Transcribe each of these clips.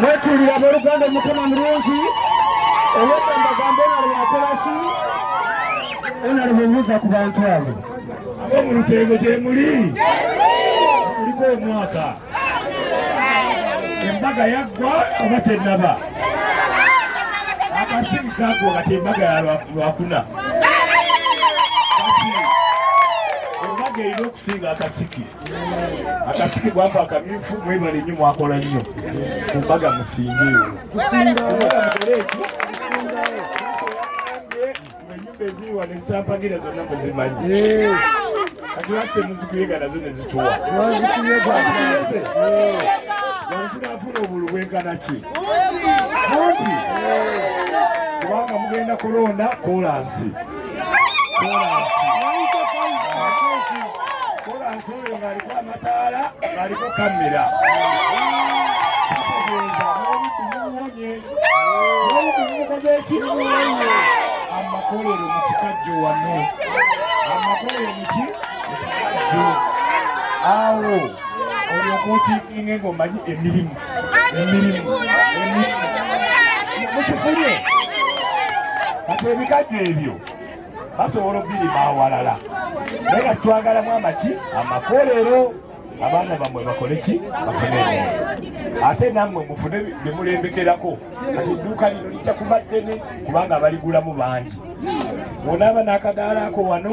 mwetulira aboluganda omutima mulungi owekambagamba onalaba akolaki onalaba obuuza ku bantu abo abo mu lutengo gyemuli kuliko omwaka embaga yaggwa oba tenaba akasimu kaggwa nga tembaga yalwakuna Omage erina okusinga akasiki. Akasiki gwako akamyufu mwebale nnyo mwakola nnyo. Ku mbaga musinge eyo. Kusinga mbaga mukole eki? Ennyumba eziri wano ezisampagira zonna muzimanyi. Kati lwaki temuzikuyega nazo ne zituwa? Wazikuyega. Wanzira afuna obulu bwenkana ki? Kumpi. Kubanga mugenda kulonda kolansi. amakolero mu kikajjo wano amakolero muki mukikajjo awo olyokuutiikinga ng'omanyi emirimu mukifulye kati ebikajjo ebyo basobola okubirima awalala naye nga twagalamu amaki amakolero abaana bamwe bakole ki bafune ate nammwe mufune byemulembekerako kati edduuka lino lijja kuba ddene kubanga abaligulamu bangi onaaba n'akadaala ako wano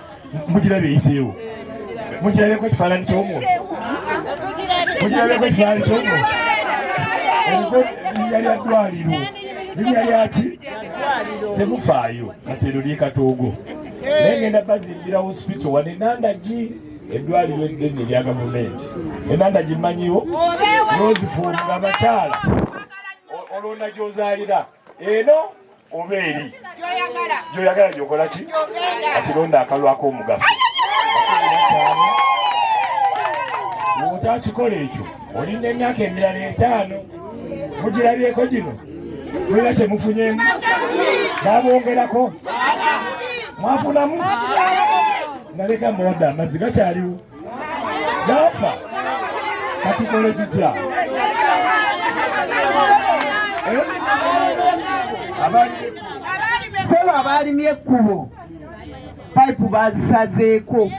mugirabye eyiseewo mugirabeko ekifaananyi kyomuntu mugirabeko ekifaananyi kyomuntu eriko linya lya ddwaliro linya lyaki temufaayo atero lyekatoogo naye ngenda bazimbira hospital wano enandagi eddwaliro eddene erya gavumenti enandagi mmanyiwo nozifuunga abakyala olwondagyozaalira eno oba eri gyoyagala gyokola ki ati londa akalwako omugaso otakikola ekyo olinda emyaka emirala etaano mugirabyeko gino mulina kyemufunyemu babongerako mwafunamu naleka mbawadde amazzi gakyaliwo yafa katukole tutya eh? sebo abaalimye ekkubo payipu bazisazeeko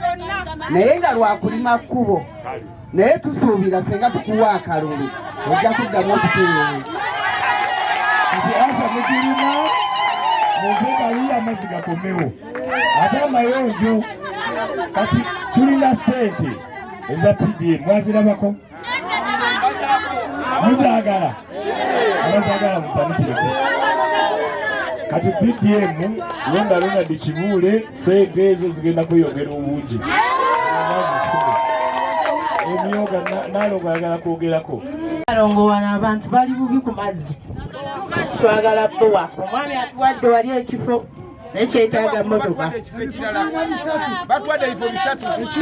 naye nga lwakulima kkubo naye tusuubira senga tukuwa akalulu ojja kuddamu okutuwewe nti asa mugirima muve kaliyo amazzi gakomewo ate amayonjo kati tulina sente eza pdm mwazirabako muzagala abazagala mupanikireko kati pdm londa londa dikibuule sente ezo zigenda kweyongera obungi emyoga nalongo ayagala kwogerako alongo wano abantu bali bubi ku mazzi twagala bowa omwami atuwadde wali ekifo naye kyetaaga motoka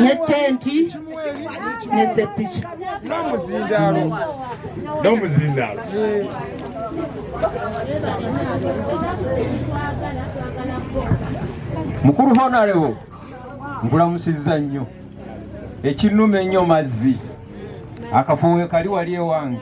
ne tenti ne sepiki n'omuzindaalo n'omuzindaalo mukulu honarebo nkulamusizza nnyo ekinuma ennyo mazzi akafuwe kali wali ewange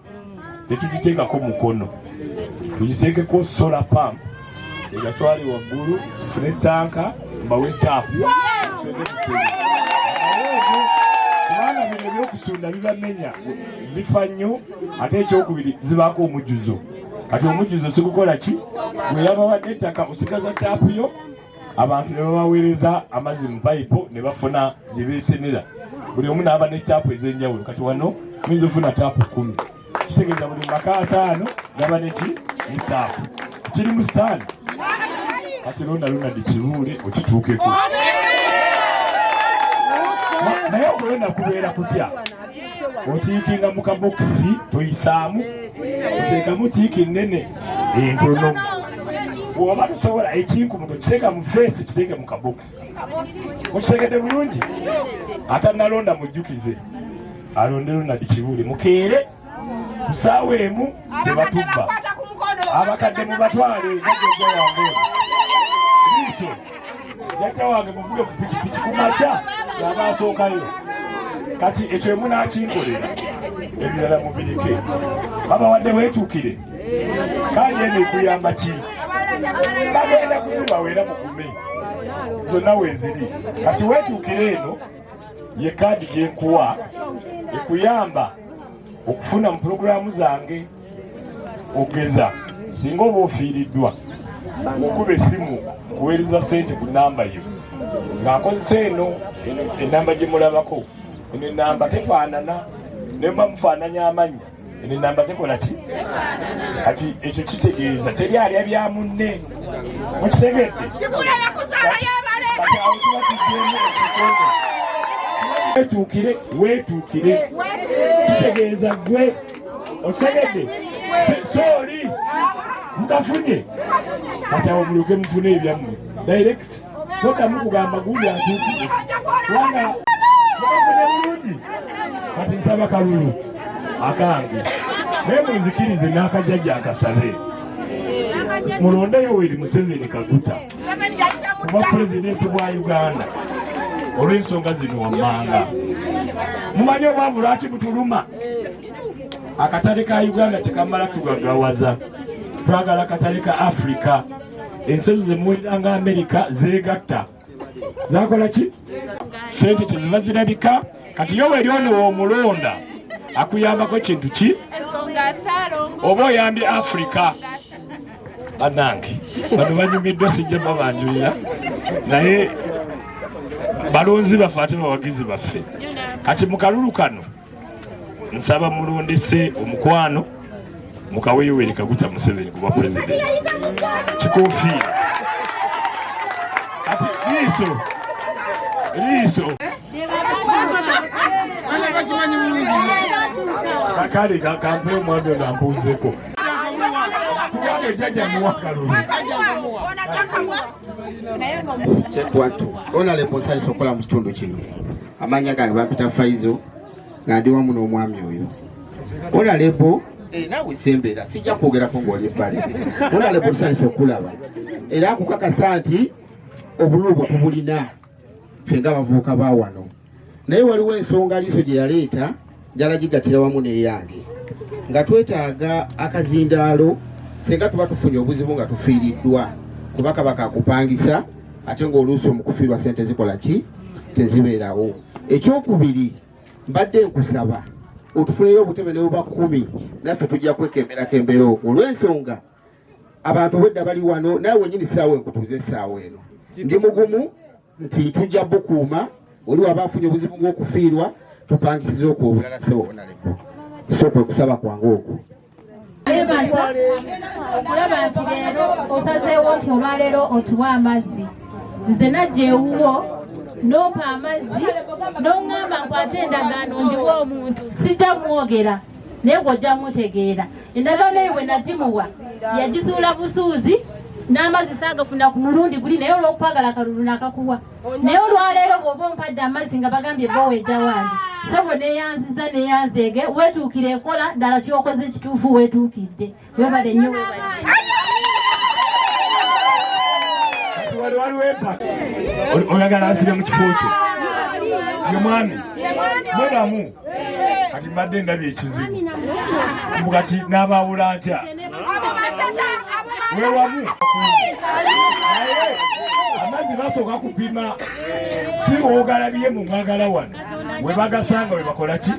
tetugiteekako mukono tugiteekeko sola pamp egatwali waggulu fune tanka mbawe taapu kubanga bino ebyokusunda bibamenya zifa nnyo ate ekyokubiri zibaako omujjuzo kati omujjuzo sikukola ki gweyabawadde ettaka osigaza taapu yo abantu ne babaweereza amazzi mu payipu ne bafuna gye beesenera buli omu n'aba ne caapu ez'enjawulo kati wano muyinza ofuna caapu kkumi kitegeeza buli maka ataano gaba neki ne caapu kiri mu sitaani kati londa lona dikibuule okituukeko naye okulonda kubeera kutya otiikinga mu kabokisi toyisaamu oteekamu tiiki nnene entono bwoba tusobola ekinkumuto kiteeka mu feesi kiteeke mu kabokisi mukitegedde bulungi atanalonda mujjukize alonde lunadi kibuule mukeere kusaawa emu tebatubba abakadde mubatwale najojawange jajja wange muvuge ku pikipiki ku makya yaba asookayo kati ekyo emunakinkolera ebirala mubirike babawadde weetuukire kanje eno ekuyamba ki bagenda kuzibaweera mugume zonna weeziri kati weetuukire eno ye kaadi gyenkuwa ekuyamba okufuna mu pulogulaamu zange okugeza singa oba ofiiriddwa okuba essimu kuweereza ssente ku namba yo ng'akozesa eno enamba gye mulabako eno enamba tefaanana nemba mufaananya amannya eno enamba tekola ki kati ekyo kitegeeza teri alya bya munne mukitegedde wetuukire wetuukire kitegeeza gwe okitegedde sooli mukafunye kati awo mulyoke mufune ebyammwe direct todamu kugamba gundi atuukire kubanga mukafunye bulungi kati nsaba kalulu akange naye munzikirize n'akajjaja akasabe mulondeyo weri museveni kaguta kuba pulezidenti bwa uganda olw'ensonga zino wammanga mumanyi obwavu lwaki butuluma akatale ka uganda tekamala tugagawaza twagala akatale ka afirika ensi ezo zemuwerera nga amerika zeegatta zakola ki sente teziba zirabika kati yo weri ono womulonda akuyambako kintu ki oba oyambye afirika bannange bano banyumiddwa sijja babanjulira naye balonzi baffe ate bawagizi baffe kati mu kalulu kano nsaba mulondese omukwano mukawe yoweri kaguta museveni kuba pulezidenti kikofiira kati liiso liiso kakale kakampe omwami ono ambuuzeko kyetwatu ona leposa isokola mu kitundu kino amanya gange bampita faizo nga ndi wamu n'omwami oyo ona lepo eh, nawe sembeera sijja kwogerako ng'oli ebbali ona lepo sanyisa okulaba era akukakasa nti obululu bwe tubulina ffe nga abavubuka ba wano naye waliwo ensonga liiso gye yaleeta njala gigatira wamu n'eyange nga twetaaga akazindaalo singa tuba tufunye obuzibu nga tufiiriddwa kuba kaba kakupangisa ate ng'oluusi omukufiirwa sente zikola ki tezibeerawo ekyokubiri mbadde nkusaba otufunire obutebe ne buba kumi naffe tujja kwekemberakembera okwo olw'ensonga abantu obwedda bali wano naye wenyini siraawo enkutuuza esiraawo eno ndi mugumu nti tujja bukuuma oli waba afunye obuzibu ng'okufiirwa tupangisiza okwo obulala sebo onaleko so kwe kusaba kwange okwo yebaza okulaba nti leero osazeewo nti olwaleero otuwa amazzi nze najja ewuwo n'ompa amazzi n'oŋŋamba nkwate endagaano njiwa omuntu sijja mwogera naye gwe ojja mutegeera endagaano eyo bwe nagimuwa yagizuula busuuzi n'amazzi saagafuna ku mulundi guli naye olw'okwagala akalulu nakakuwa naye olwaleero bw'oba ompadde amazzi nga bagambye bowa ejja wange sebo neyanziza neyanzeege weetuukire ekola ddala kyokoze kituufu weetuukidde webale nnyo oyagala asibe mu kifo kyo ye mwami mwebamu kati mbadde ndabye ekizibu mbu kati n'abaawula ntya wewamu amazzi basooka kupima si woogalabiye mu mwagala wano we bagasanga we bakola ki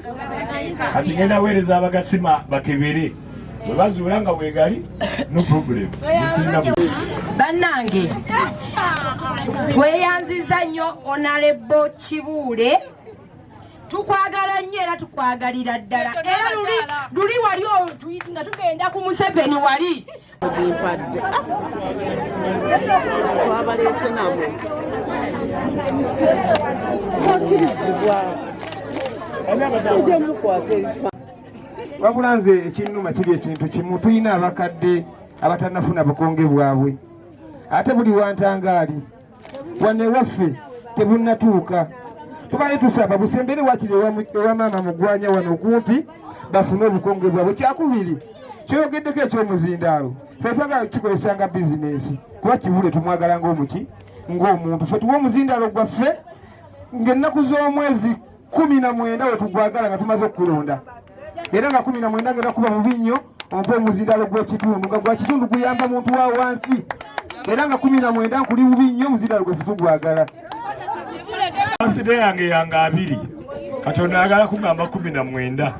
kati ngenda weereza abagasima bakebere bwebazuula nga bwegali no problem bannange tweyanziza nnyo onalebo kibuule tukwagala nnyo era tukwagalira ddala era luli wali nga tugenda ku museveni wali gimpadde twabaleese nabo twakirizibwa tujja mukwata ebifa wabula nze ekinnuma kiri ekintu kimu tulina abakadde abatanafuna bukonge bwabwe ate buli wantangaali wano ewaffe tebunnatuuka tubale tusaba busembere wakiri ewa maama mugwanya wano okumpi bafune obukonge bwabwe kyakubiri kyoyogeddeko ekyomuzindaalo fe twagala tukikozesa nga bizinensi kuba kibule tumwagala ngaomuki ngaomuntu fe tuwa omuzindaalo gwaffe ng'ennaku z'omwezi kumi na mwenda wetugwagala nga tumaze okukulonda era nga kumi na mwenda ngera kuba mubi nnyo ompa omuzindalo gw'ekitundu nga gwa kitundu guyamba muntu wa wansi era nga kumi na mwenda nkuli bubi nnyo omuzindalo gwe tutugwagala aside yange yange abiri katonda ayagala kugamba kumi na mwenda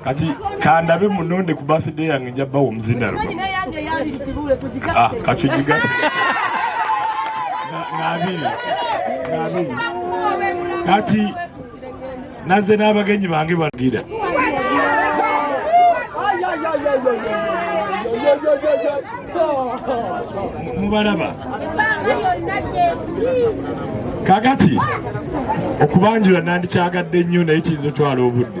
kati kandabe munonde ku birthday yange nja bawa omuzinaro ah, kacujiga nabiri nabiri kati naze n'abagenyi bange bagira mubalaba kakati okubanjula nandikyagadde nnyo naye kiyinza otwala obudde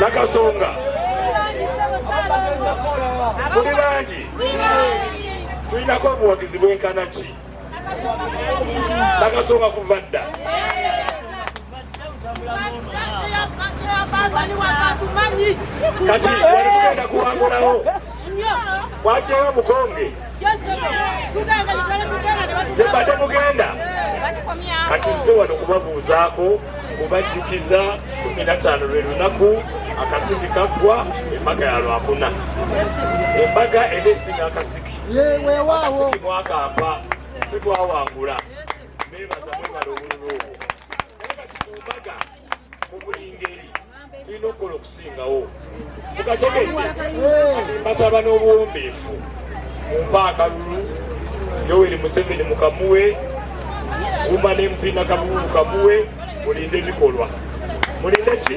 nakasonga muli bangi tulinako obuwagizi bwenkana ki nakasonga kuva dda kati wali tugenda kuwangulawo wajeyo omukonge gyebadde mugenda kati nze wano kubabuuzaako kubajjukiza kumi nataano lwe lunaku akasiki kaggwa embaga ya lwakuna embaga eba esinga akasiki akasiki mwakampa fe twawangula nebaza mwebala obululu obwo naye kati ku mbaga mu buli ngeri tulina okukola okusingawo mukategedde kati mbasaba n'obuwombeefu mumpa akalulu yoweri museveni mukamuwe gumba n'empina kavubu kamuwe mulinde bikolwa mulinde ki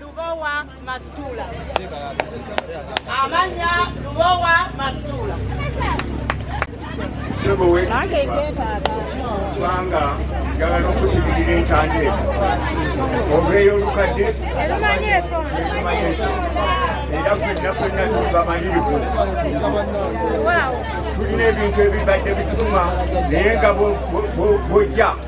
Lubowa Masitula. Amanya Lubowa Masitula. Sebo we. Banga njagala n'okukimirira entanda eno oba ey'olukadde era fenna fenna tubamalirivu tulina ebintu ebibadde bituma naye nga bwojja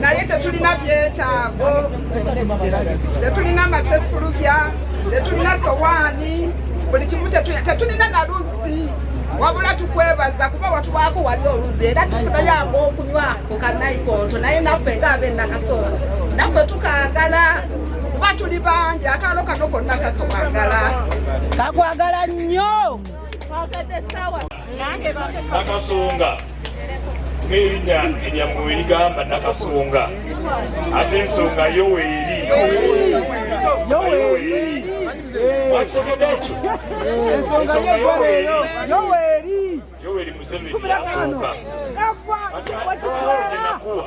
naye tetulina byetaago, tetulina masefulubya, tetulina sowaani, buli kimu tetulina na luzzi wabula tukwebaza kuba watuwaako wali oluzi era tufunayo ag'okunywa ku kanaikonto naye naffe nga ab'enakasolo naffe tukagala kuba tuli bangi akaalo kano konna kakwagala kakwagala nnyo nakasonga ng'erinnya eryammwe we ligamba nakasonga ate ensonga yo weeri wakitegedde ekyo ensonga yo weeri yo weeri museveni asonga kati awo gyenakuwa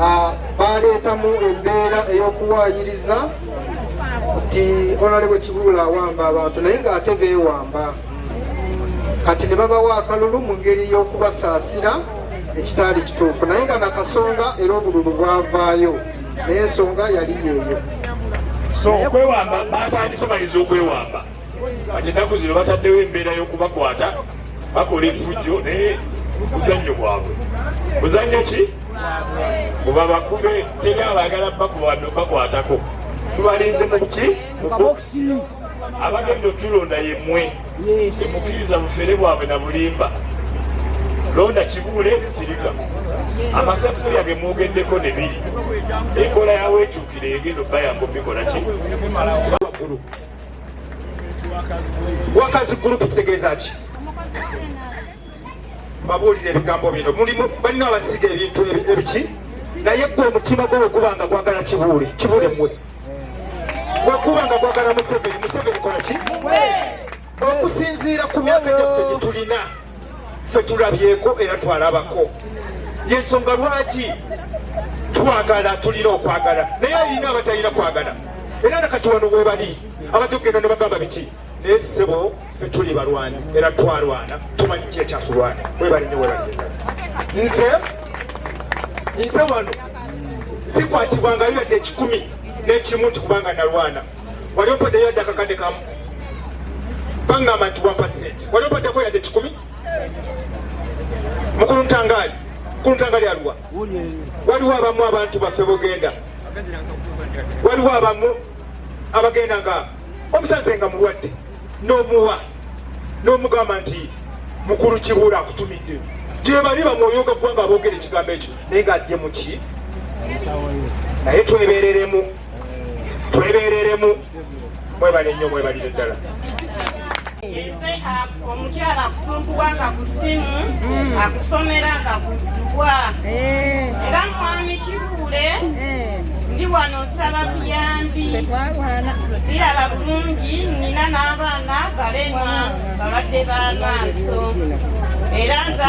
Ah, baaleetamu embeera ey'okuwaayiriza nti onale bwe kibuula awamba abantu naye ng'ate beewamba kati ne babawa akalulu mu ngeri y'okubasaasira ekitaali kituufu naye nga nakasonga era obululu bwavaayo naye ensonga yali yeeyo so okwewamba batandise balinza okwewamba kati ennaku zino bataddewo embeera y'okubakwata bakola efujjo naye muzannyo gwabwe muzannyo ki muba bakube teri abaagala bakwatako tubalinze mu ki mu bokisi abagenda otulonda yemwe temukkiriza bufere bwabwe na bulimba londa kibuule sirika amaseffuliya ge mwogeddeko ne biri enkola yaweekyukira egenda obbayamba obikola ki wakazi gurupu kitegeeza ki babuulira ebigambo bino mulimu balina abasiga ebintu ebiki naye gwe omutima gwo weguba nga gwagala kibuule kibuule mwe weguba nga gwagala museveni museveni kola ki okusinziira ku myaka gyaffe gyetulina ffe tulabyeko era twalabako yensonga lwaki twagala tulina okwagala naye alina abatalina kwagala era nakati wano webali abatugenda ne bagamba biki naye sebo ffe tuli balwani era twalwana tumanyi ki ekyasulwana webali nyo webali nze nze wano sikwatibwangayo yadde ekikumi n'ekimu nti kubanga nalwana wali opaddeyo yadde akakadde kamu bangamba nti wampa sente wali opaddeko yadde kikumi mukulu ntangaali mukulu ntangaali aluwa waliwo abamu abantu baffe bogenda waliwo abamu abagenda nga omusaze nga mulwadde n'omuwa n'omugamba nti mukulu kibuula akutumidde gyebali bamwoyoga ggwanga aboogera ekigambo ekyo naye nga ajje muki naye twebereremu twebereremu mwebale nnyo mwebalire ddala omukyala akusunkuwa nga ku ssimu mm. akusomera nga kuddubwa eh. era mwami kikule eh. ndi wano nsaba buyambi siraba bulungi nina n'abaana balema balwadde b'amaaso era nza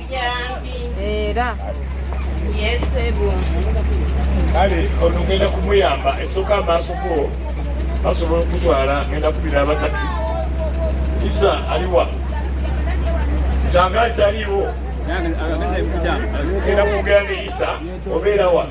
era kale ono ngenda kumuyamba esooka amaaso go basobola okutwala ngenda kubira abatatu isa aliwa kyangali taliwo genda kwogera ne isa obeera wa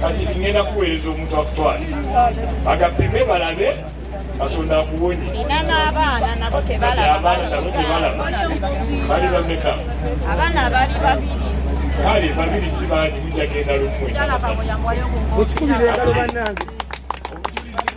kati ngenda kuweereza omuntu akutwale agapime balabe katonda akuwonye abaana nabo tebalaba bali bameka abaana bali babiri kale babiri sibangi mujagenda lumwe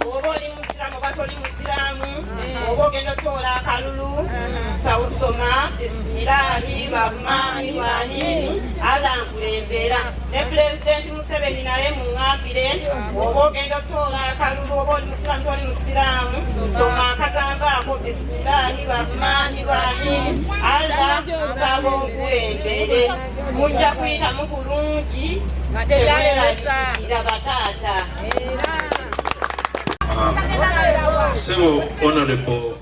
oba oli musiramu oba toli musiramu oba ogenda otoola akalulu sawusoma bisimilahi rahmani rahimi allah nkulembera ne pulezidenti museveni naye muŋambire oba ogenda otoola akalulu oba oli musiramu toli musiramu soma akagambo ako bisimilahi rahmani rahimi allah nsaba onkulembere mujja kuyitamu bulungi nga tebyalewesa ira bataata sebo honorable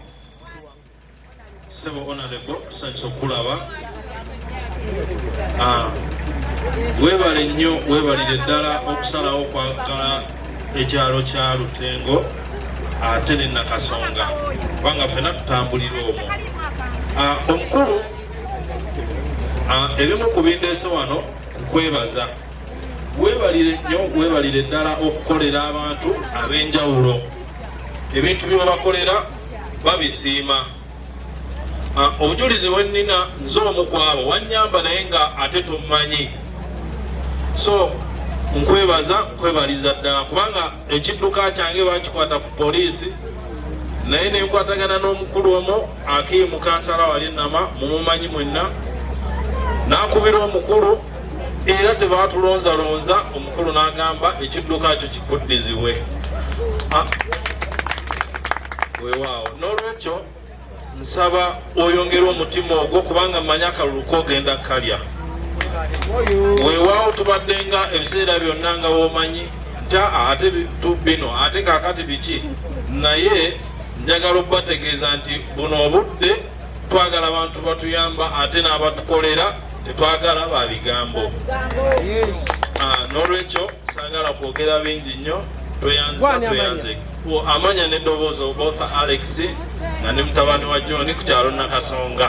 sebo honorable tusanyusa okukulaba ah, webale nnyo webalire ddala okusalawo okwagala ekyalo kya lutengo ate ne nakasonga kubanga fena tutambulira omwo ah, omukulu ah, ebimu ku bindeese wano kukwebaza weebalire nnyo weebalire ddala okukolera abantu ab'enjawulo ebintu byebabakolera babisiima ah, obujulizi wennina nze omu kwabo wanyamba naye nga ate tommanyi so nkwebaza nkwebaliza ddala kubanga ekidduka kyange bakikwata ku poliisi naye nenkwatagana n'omukulu omu akiimukansala wali nama mumumanyi mwenna nakubira omukulu era tebaatulonzalonza omukulu n'agamba ekidduka kyo kikuddizibwe ah. wewaawo n'olwekyo nsaba oyongere omutima ogwo kubanga manya akalulu kogenda kalya wewaawo tubadde nga ebiseera byonna nga womanyi nta ate bino ate kakati biki naye njagala okubategeeza nti buno obudde twagala abantu batuyamba ate n'abatukolera tetwagala ba bigambo ah, n'olwekyo sagala kwogera bingi nnyo tweyanzisa tweyanze amanya n'eddoboozi obotha alex nga ne mutabani wa john ku kyalo nakasonga